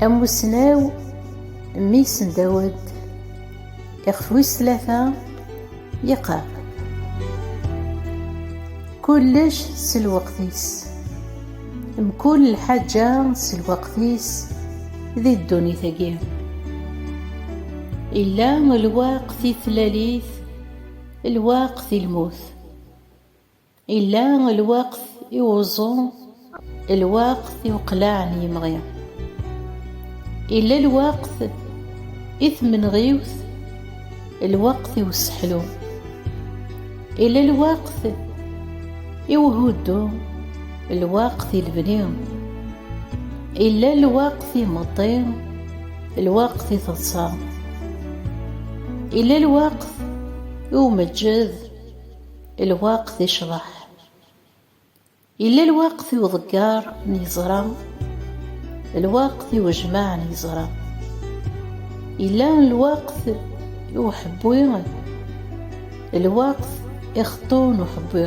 Amussnaw Miss Dawed ixef wis tlata yeqqar kullec s lweqt-is mkul lḥaǧa s lweqt-is di ddunit-agi illa lweqt i tlalit lweqt i lmut Illa lweqt i wuẓu, lweqt i uqlaɛ n yimɣi. Illa lweqt i tmenɣiwt, lweqt i useḥlu. Illa lweqt i uhuddu, lweqt i lebni. Illa lweqt i imeṭṭi, lweqt i teḍsa. Illa lweqt i umeǧǧed, Lweqt icḍeḥ. Yella lweqt i uḍeggar n yeẓra, lweqt i ujmaɛ n yeẓra. Yella lweqt i uḥebbi, lweqt i xeṭṭu n uḥebbi.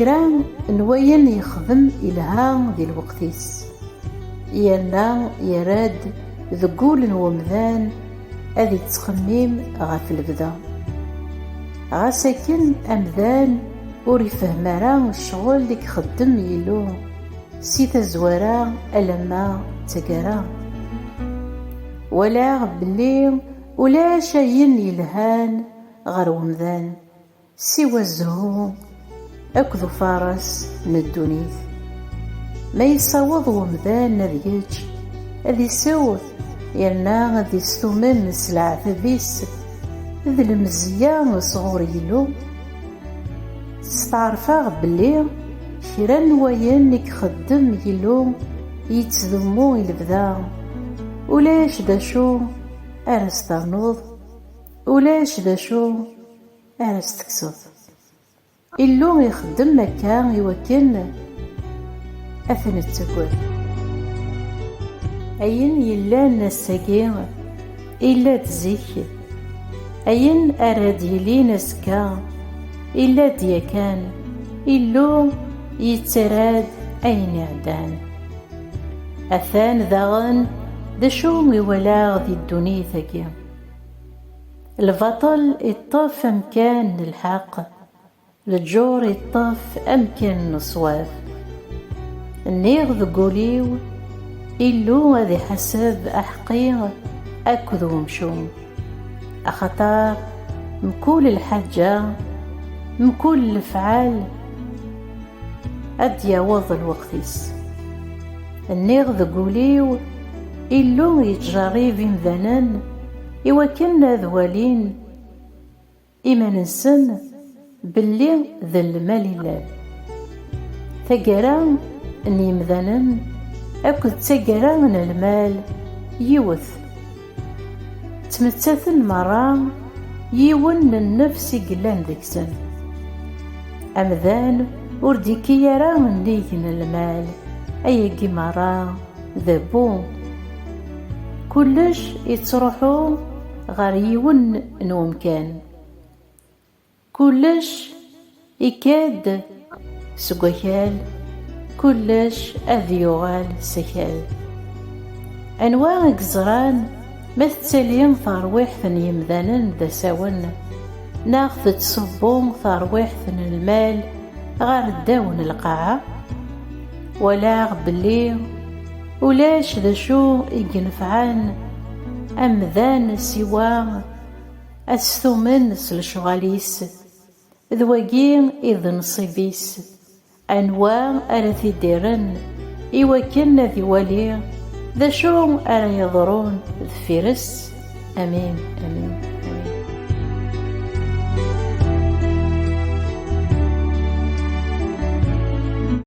Kra n wayen yexdem ilha di lweqt-is, yerna yerra-d deg wul n wemdan ad yettxemmim ɣef lebda. Ɣas akken amdan ur ifehhem ara ccɣel i ixeddem Yillu si tazwara alamma d taggara. Walaɣ belli ulac ayen yelhan ɣer umdan siwa zzhu akked ufares n ddunit. Ma yessaweḍ umdan ad yečč, ad isew yerna ad istumen s leɛtab-is d lemzeyya sɣur Yillu, steɛṛfeɣ belli kra n wayen i ixeddem Yillu yettdummu i lebda, ulac d acu ara s-ternuḍ. Ulac d acu ara s-tekseḍ. Illu ixeddem akka i wakken ad t-nettagad. Ayen yellan ass-agi, illa-d zik. Ayen ara d-yilin azekka, illa-d yakan. Illu yettarra-d ayen iɛeddan. Atan daɣen d acu i walaɣ di ddunit-agi. Lbaṭel iṭṭef amkan n lḥeqq, leǧur iṭṭef amkan n ṣṣwab. Nniɣ deg wul-iw, Illu ad iḥaseb aḥeqqi akked umcum, axaṭer mkul lḥaǧa, mkul lefɛal, ad d-yaweḍ lweqt-is. Nniɣ deg ul-iw, Illu yettjeṛṛib imdanen i wakken ad walin iman-nsen belli d lmal i llan. Taggara n yimdanen akked d taggara n lmal yiwet. Ttmettaten merra yiwen n nnefs i yellan deg-sen. Amdan ur d-ikki ara nnig n lmal, ayagi merra d abbu. Kullec ittruḥu ɣer yiwen n umkan. Kullec ikad seg wakal, kullec ad yuɣal s akal. Anwa i yeẓran ma tettali terwiḥt n yemdanen d asawen, neɣ tettṣubbu terwiḥt n lmal ɣer ddaw n lqaɛa? Walaɣ belli ulac d acu i yenefɛen amdan siwa, Ad stumen s lecɣal-is. D wagi i d nnṣib-is. Anwa ara t-id-irren i wakken ad iwali d acu ara yeḍrun deffir-s? Amin, amin, amin.